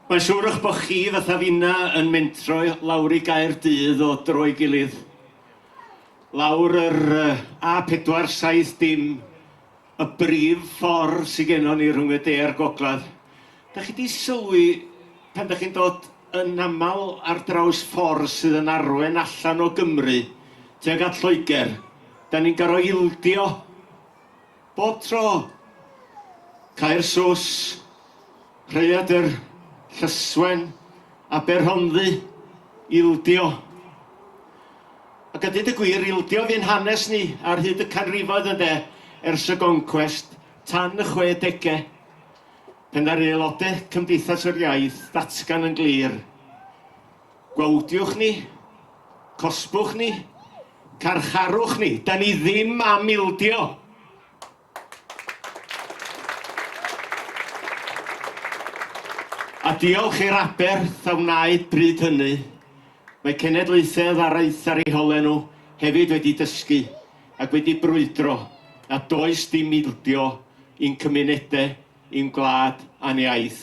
Mae'n siŵr eich bod chi, fatha finna, yn mentro lawr i Gaerdydd o dro i gilydd. Lawr yr A470, y brif ffordd sydd gennon ni rhwng y de a'r gogledd. Da chi di sylwi pan da chi'n dod yn aml ar draws ffordd sydd yn arwen allan o Gymru tuag at Lloegr, da ni'n gorfod ildio. Bob tro, cau'r sos, rhaeadr, llyswen, Aberhonddu, ildio. Ac a dweud y gwir, ildio fu'n hanes ni ar hyd y canrifoedd ynde, ers y goncwest, tan y chwedegau, pan ddaru aelodau Cymdeithas yr Iaith ddatgan yn glir, Gwawdiwch ni, cosbwch ni, Carcharwch ni, da ni ddim am ildio! A diolch i'r aberth a wnaed bryd hynny, mae cenedlaethedd araith ar eu hole nhw hefyd wedi dysgu ac wedi brwydro nad oes dim ildio i'n cymunedau, i'n gwlad a'n iaith.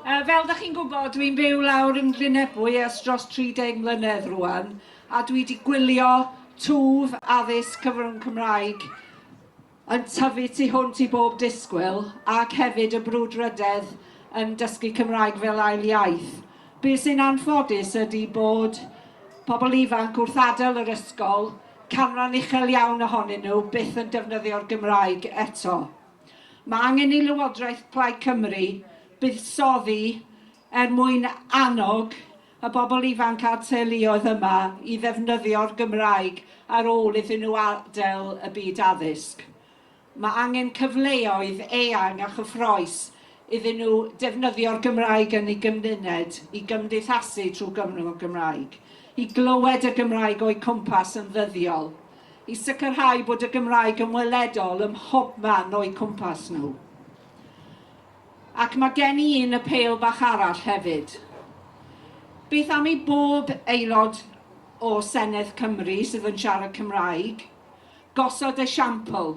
Uh, fel da chi'n gwybod, dwi'n byw lawr yn Glynebwy ers dros 30 mlynedd rwan, a dwi wedi gwylio twf addysg cyfrwng Cymraeg yn tyfu tu hwnt i bob disgwyl ac hefyd y brwdfrydedd yn dysgu Cymraeg fel ail iaith. Be sy'n anffodus ydy bod pobl ifanc wrth adael yr ysgol, canran uchel iawn ohonyn nhw byth yn defnyddio'r Gymraeg eto. Mae angen i Lywodraeth Plaid Cymru buddsoddi er mwyn annog y bobl ifanc a'r teuluoedd yma i ddefnyddio'r Gymraeg ar ôl iddyn nhw adael y byd addysg. Mae angen cyfleoedd eang a chyffrous iddyn nhw defnyddio'r Gymraeg yn eu gymuned, i gymdeithasu trwy gyfrwng y Gymraeg, i glywed y Gymraeg o'u cwmpas yn ddyddiol. i sicrhau bod y Gymraeg yn weledol ym mhobman o'u cwmpas nhw. Ac mae gen i un apêl bach arall hefyd. Beth am i bob aelod o Senedd Cymru sydd yn siarad Cymraeg gosod esiampl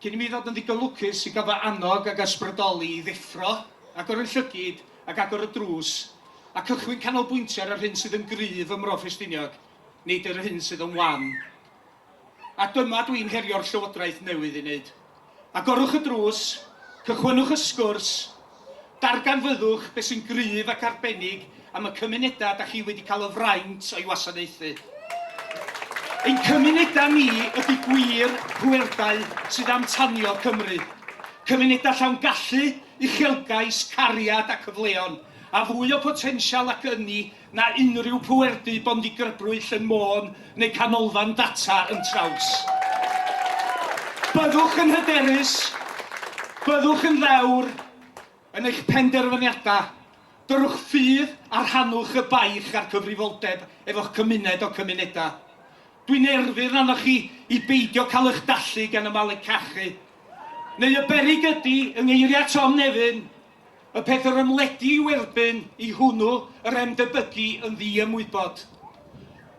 Cyn i mi ddod yn ddigon lwcus i gael fy annog ag ysbrydoli i ddeffro, agor yn llygid ac agor y drws, a cychwyn canolbwyntio ar yr hyn sydd yn gryf ym Mro Ffestiniog, nid yr hyn sydd yn wan. A dyma dwi'n herio'r Llywodraeth newydd ei wneud. Agorwch y drws, cychwynnwch y sgwrs, Darganfyddwch beth sy'n gryf ac arbennig am y cymunedau da chi wedi cael y fraint o'i wasanaethu. Ein cymunedau ni ydy gwir pwerdai sydd am tanio Cymru. Cymunedau llawn gallu, uchelgais, cariad a cyfleon, a fwy o botensial ac ynni na unrhyw pwerdy bondigrybwyll yn Môn neu Canolfan Data yn Traws. Byddwch yn hyderus, byddwch yn ddewr yn eich penderfyniadau, dyrwch ffydd a rhannwch y baich a'r cyfrifoldeb efo'ch cymuned o cymunedau. Dwi'n erfyn arnoch chi i beidio cael eich dallu gan y malu cachu, neu y beryg ydy, yng ngeiriau Tom Nefyn, Y peth yr ymledu i'w erbyn i hwnnw yr emdybygu yn ddi-ymwybod.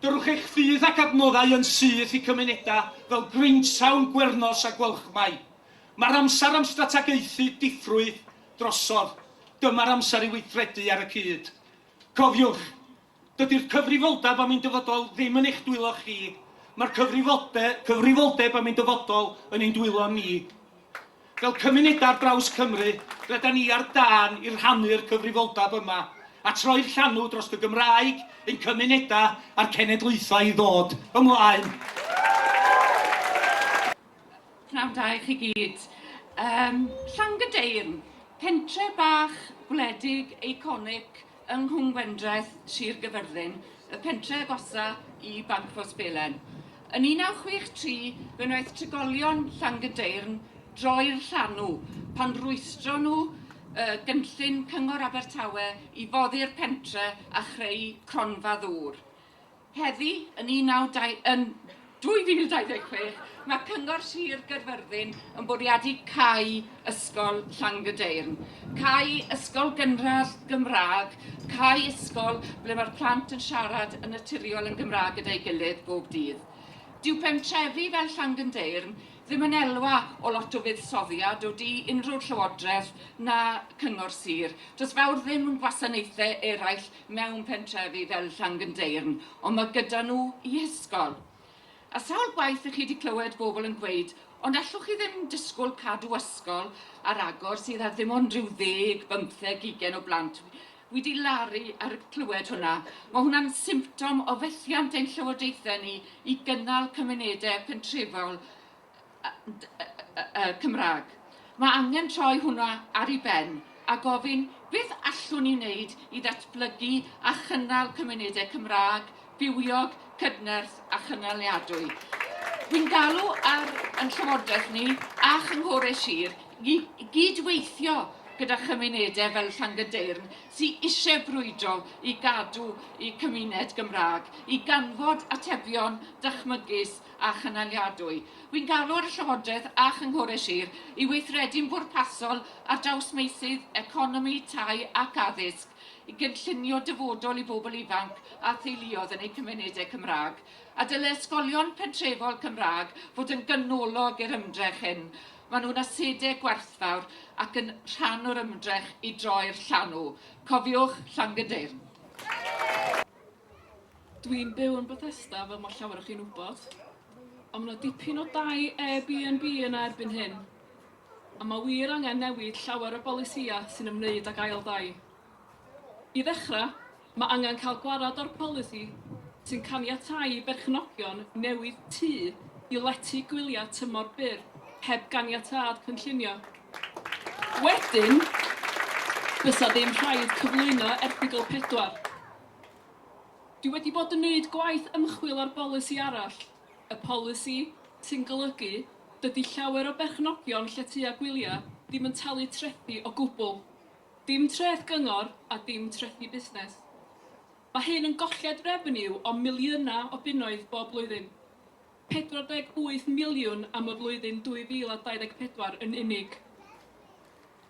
Dyrwch eich ffydd ac adnoddau yn syth i cymunedau fel Grangetown, Gwernos a Gwalchmai. Mae'r amser am strategaethu diffrwydd drosodd. Dyma'r amser i weithredu ar y cyd. Cofiwch, Dydy'r cyfrifoldeb am ein dyfodol ddim yn eich dwylo chi, mae'r cyfrifolde, cyfrifoldeb am ein dyfodol yn ein dwylo ni. Fel cymunedau ar draws Cymru, rydan ni ar dân i rhannu'r cyfrifoldeb yma, a troi'r llanw dros y Gymraeg, ein cymunedau a'r cenedlaethau i ddod ymlaen. Pnawn da i chi gyd. Um, Llangydeyrn, pentre bach gwledig, eiconig, yng Nghwmgwendraeth, Sir Gyfyrddin, y pentre' agosa' i Banc Port Belen. Yn 1963, fe wnaeth trigolion Llangydeyrn droi'r llanw pan rwystro nhw y gynllun Cyngor Abertawe i foddi'r pentre' a chreu cronfa ddŵr. Heddi, yn 2026, mae Cyngor Sir Gaerfyrddin yn bwriadu cau Ysgol Llangadeirn, cau ysgol gynradd Gymraeg, cau ysgol ble mae'r plant yn siarad yn naturiol yn Gymraeg gyda'i gilydd bob dydd. Dyw pentrefi fel Llangadeirn ddim yn elwa o lot o fuddsoddiad o du unrhyw llywodraeth na Cyngor Sir. Does fawr ddim yn gwasanaethau eraill mewn pentrefi fel Llangyndeyrn, ond mae gyda nhw i hysgol. A sawl gwaith i chi wedi clywed bobl yn gweud, ond allwch chi ddim disgwyl cadw ysgol ar agor sydd â ddim ond rhyw ddeg, bymtheg, ugain o blant? Wi di laru ar y clywed hwnna. Mae hwnna'n symptom o fethiant ein llywodaethau ni i gynnal cymunedau pentrefol Cymraeg. Mae angen troi hwnna ar ei ben a gofyn beth allwn ni wneud i ddatblygu a chynnal cymunedau Cymraeg bywiog, cydnerth a chynaliadwy. Dwi'n galw ar yn Llywodraeth ni a Chynghorau Sir i gyd-weithio gyda chymunedau fel Llangydeyrn sy eisiau brwydro i gadw eu cymuned Gymraeg, i ganfod atebion dychmygus a chynaliadwy. Rwy'n galw ar y Llywodraeth a Chynghorau Sir i weithredu'n bwrpasol ar draws meysydd economi, tai ac addysg i gynllunio dyfodol i bobl ifanc a theuluoedd yn eu cymunedau Cymraeg, a dylai ysgolion pentrefol Cymraeg fod yn ganolog i'r ymdrech hyn. Maen nhw'n asedau gwerthfawr ac yn rhan o'r ymdrech i droi'r llanw. Cofiwch, Llangydeyrn. Dwi'n byw yn Bethesda fel mae llawer o chi'n wybod, a mae yna dipyn o dai Airbnb yna erbyn hyn, a mae wir angen newid llawer o bolisïau sy'n ymwneud ag ail dai. I ddechrau, mae angen cael gwarad o'r polisi sy'n caniatáu i berchnogion newid tŷ i lety gwyliau tymor byr heb ganiatâd cynllunio. Wedyn, bysa ddim rhaid cyflwyno erthygl 4. Dwi wedi bod yn neud gwaith ymchwil ar bolisi arall, y polisi sy'n golygu dydi llawer o berchnogion lletyau gwyliau ddim yn talu trethi o gwbl. Dim treth gyngor a dim trethi busnes. Mae hyn yn golled revenue o miliynau o bunnoedd bob blwyddyn. 48 miliwn am y flwyddyn 2024 yn unig.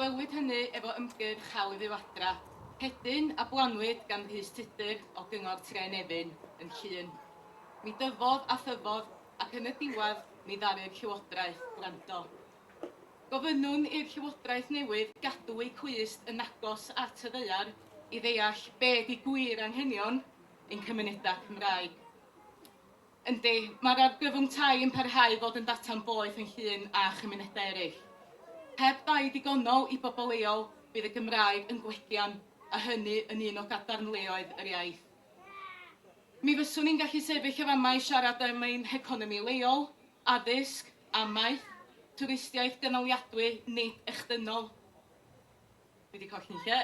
Gwelwyd hynny efo ymgyrch Hawl i Fyw Adra, hedyn, a blannwyd gan Rhys Tudur o Gyngor Tre Nefyn yn Llŷn. Mi dyfodd a thyfodd ac yn y diwedd mi ddaru'r Llywodraeth wrando. Gofynnwn i'r Llywodraeth newydd gadw eu clust yn agos at y ddaear i ddeall be' ydi gwir anghenion ein cymunedau Cymraeg. Yndi, mae'r argyfwng tai yn parhau i fod yn data'n boeth yn Llŷn a chymunedau eraill. Heb dai digonol i bobl leol, bydd y Gymraeg yn gwellian, a hynny yn un o gadarnleoedd yr iaith. Mi fyswn i'n gallu sefyll y fama i siarad am ein heconomi leol, addysg, amaeth, twristiaeth gynaliadwy, nid echdynol. Dwi 'di colli lle.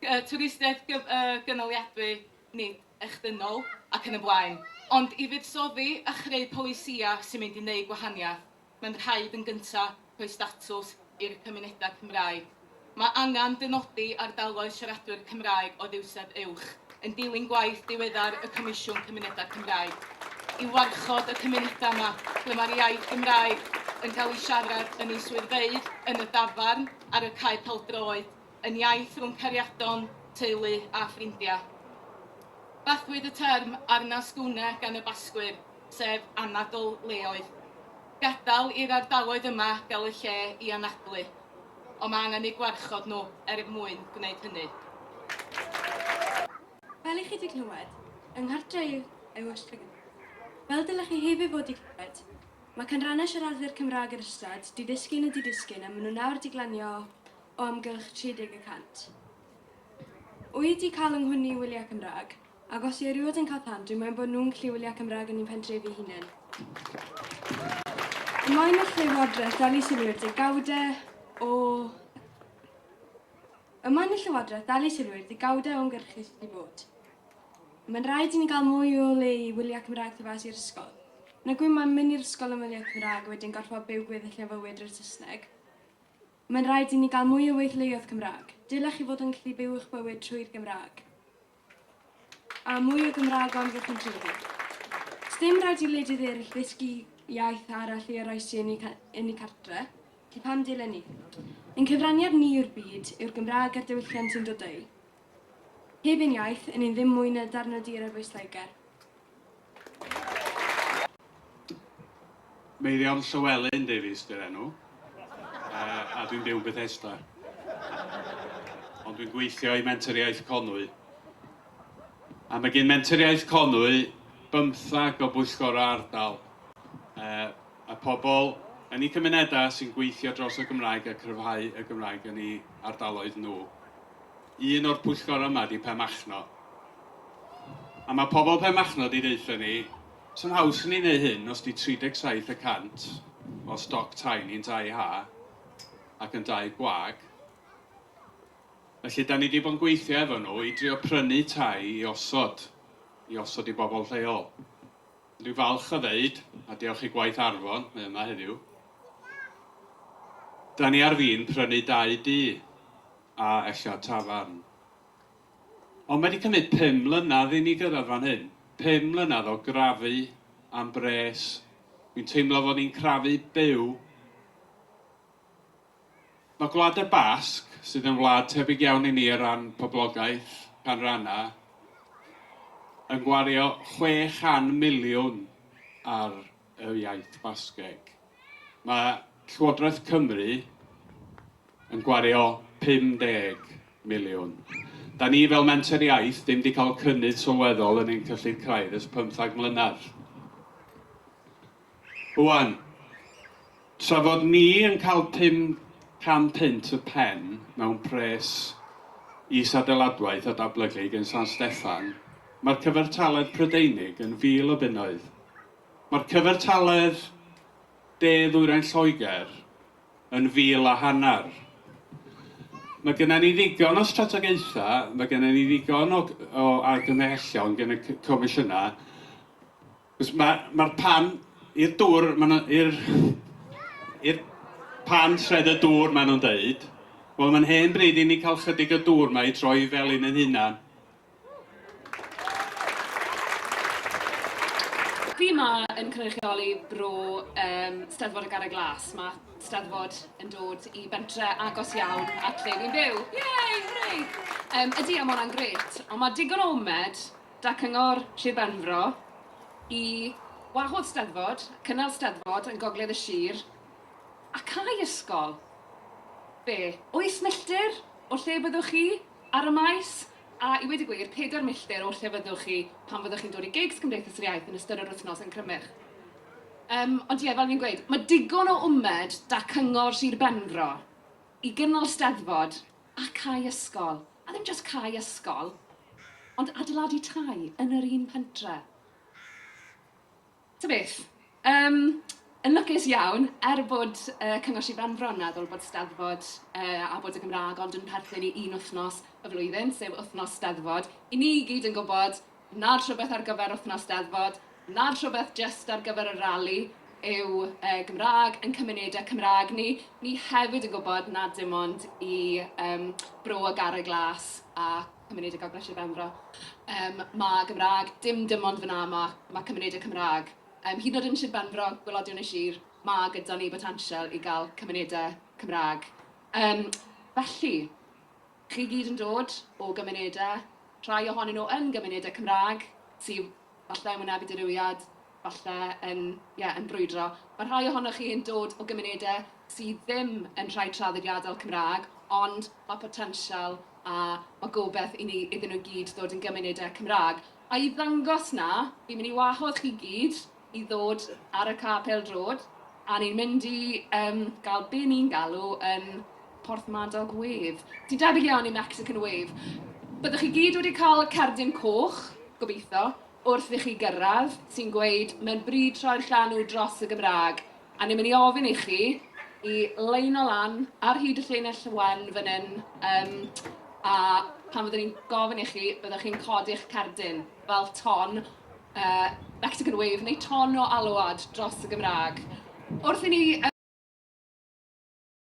Yy twristiaeth gyf- yy gynaliadwy, nid echdynnol, ac yn y blaen. Ond i fuddsoddi a chreu polisïau sy'n mynd i wneud gwahaniaeth, mae'n rhaid yn gyntaf rhoi statws i'r cymunedau Cymraeg. Mae angen dynodi ardaloedd siaradwyr Cymraeg o ddywysedd uwch. yn dilyn gwaith diweddar y Comisiwn Cymunedau Cymraeg i warchod y cymunedau yma ble mae'r iaith Gymraeg yn cael ei siarad yn ei swyddfeydd, yn y dafarn, ar y cae peldroed, yn iaith rhwng cariadon, teulu a ffrindiau. Bathwyd y term arna sgwne gan y Basgwyr, sef anadl leoedd. Gadael i'r ardaloedd yma gael y lle i anadlu. ond mae angen eu gwarchod nhw er mwyn gwneud hynny. Fel i chi 'di clywed, yng nghartre' i yw Ysbyddyden. Fel dylech chi hefyd fod 'di clywed, mae canrannau siaradwyr Cymraeg yr ystad, di-ddisgyn a di-disgyn a maen nhw nawr 'di glanio o amgylch 30 y cant. Wy 'di cael 'y nghwni i wyliau Cymraeg, Ac os yw erioed yn cael plant, dwi'n moyn bod nhw'n gallu wylio Cymraeg yn i'n pentrefi i hunain. Dwi'n moyn eich llywodraeth dal i sylwi'r degawdau o... Y moyn y llywodraeth dal i sylwi'r degawdau o'n gyrchu sydd wedi bod. Mae'n rhaid i ni gael mwy o le i wylio Cymraeg tu fas i'r ysgol. Na gwy mae'n mynd i'r ysgol yn wylio Cymraeg a wedyn gorfod byw gweddill neu fywyd drwy'r Saesneg. Mae'n rhaid i ni gael mwy o weithleoedd Cymraeg. Dylech chi fod yn gallu byw eich bywyd trwy'r Gymraeg. A mwy o Gymraeg am fy cynlluniau. Sdim rhaid i wledydd eraill ddysgu iaith arall i oroesi yn eu, yn eu cartre, felly pam dilyn ni? Ein cyfraniad ni yw'r byd, yw'r Gymraeg a'r diwylliant sy'n dod o'i. Heb ein iaith, yn ni ddim mwy na darn o dir ar bwys Lloegr. Meirion Llywelyn Davies di'r enw, uh, a dwi'n byw yn Bethesda. Ond dwi'n gweithio i Mentoriaeth Conwy. A mae gen Mentoriaeth Conwy bymthag o bwyllgorau ardal. Uh, y pobl yn ei cymunedau sy'n gweithio dros y Gymraeg a cryfhau y Gymraeg yn ei ardaloedd nhw. Un o'r pwyllgor yma di Penmachno. A mae pobl Penmachno di deutha ni, sy'n haws i ni neu hyn os di 37 y cant o stoc tai ni'n dau ha ac yn dau gwag. Felly, da ni di bod yn gweithio efo nhw i drio prynu tai i osod, i osod i bobl lleol. Dwi'n falch o ddeud, a diolch i gwaith Arfon, mae yma heddiw, da ni ar fin prynu dau du. A ella tafarn. Ond mae 'di cymryd pum mlynedd i ni gyrraedd fan hyn. Pum mlynedd o grafu am bres. Dwi'n teimlo fod ni'n crafu byw. Mae Gwlad y Basg, sydd yn wlad tebyg iawn i ni o ran poblogaeth, canrannau, yn gwario chwe chan miliwn ar yr iaith Basgeg. Mae Llywodraeth Cymru yn gwario 50 miliwn. Da ni fel Menter Iaith ddim wedi cael cynnydd sylweddol yn ein cyllid craidd ers 15 mlynedd. Rwan, tra fod ni yn cael 500 punt y pen mewn pres is-adeiladwaith a dablygu yn San Steffan, mae'r cyfartaledd Prydeinig yn 1,000 o bunnoedd. Mae'r cyfartaledd de-ddwyrain Lloegr yn fil a hanner. Mae gennym ni ddigon o strategaethau, mae gennym ni ddigon o o argymhellion gen y c- Comisiynau, achos ma' ma'r pan i'r dŵr ma' 'na i'r i'r pan tredd y dŵr maen nhw'n deud, wel mae'n hen bryd i ni cael chydig o dŵr 'ma i droi i Felin ein hunan. Dwi yma yn cynrychioli bro um, Steddfod y Garreg Glas. Mae Steddfod yn dod i bentre agos iawn at lle fi'n byw. Yay, hwrei! Um, ydy, a mae hwnna'n gret. Ond mae digon o omed da cyngor Sir Benfro i wahodd Steddfod, cynnal Steddfod yn gogledd y sir, a cael ysgol. Be, oes milltir o'r lle byddwch chi? Ar y maes, a i weud y gwir, pedair milltir o'ch lle fyddwch chi pan fyddwch chi'n dod i gigs Cymdeithas yr Iaith yn ystod yr wythnos yn Crymych. Yym, ond ie, fel fi'n gweud, mae digon o wmed 'da Cyngor Sir Benfro i gynnal Steddfod a cau ysgol, a ddim jyst cau ysgol, ond adeiladu tai yn yr un pentre. Ta beth. Yym, yn lwcus iawn, er bod y Cyngor Sir Benfro yn meddwl bod Steddfod yy a bod y Gymraeg ond yn perthyn i un wythnos y flwyddyn, sef wythnos Steddfod, i ni i gyd yn gwybod nad rhywbeth ar gyfer wythnos Steddfod, nad rhywbeth jyst ar gyfer y rali yw y Gymraeg ein cymunedau Cymraeg ni. Ni hefyd yn gwybod nad dim ond i yym Bro y Garreg Las a cymunedau gael brysur benfro. Yym mae Gymraeg, dim dim ond fan'na mae mae cymunedau Cymraeg. Yym hyd yn oed yn Sir Benfro, gwelodion y sir, mae gyda ni botensial i gael cymunedau Cymraeg. Yym felly, chi gyd yn dod o gymunedau, rhai ohonyn nhw yn gymunedau Cymraeg, sydd Falle yn wynebu dirywiad, falle yn, ie, yn brwydro. Mae rhai ohonoch chi yn dod o gymunedau sydd ddim yn rhai traddodiadol Cymraeg, ond mae potensial a mae gobeith i ni, iddyn nhw i gyd ddod yn gymunedau Cymraeg. A i ddangos 'na, fi'n mynd i wahodd chi gyd i ddod ar y ca pêl-droed, a ni'n mynd i, yym, gael be ni'n galw yn, Porthmadog Wave. Ti'n debyg iawn i Mexican Wave. Byddwch chi gyd wedi cael cerdyn coch, gobeithio, wrth i chi gyrraedd, sy'n gweud mae'n bryd troi'r llanw dros y Gymraeg, a ni'n mynd i ofyn i chi i leino lan ar hyd y llinell wen fan hyn, um, a pan fyddwn ni'n gofyn i chi, byddwch chi'n codi'ch cerdyn fel ton uh, Mexican Wave neu ton o alwad dros y Gymraeg. Wrth i ni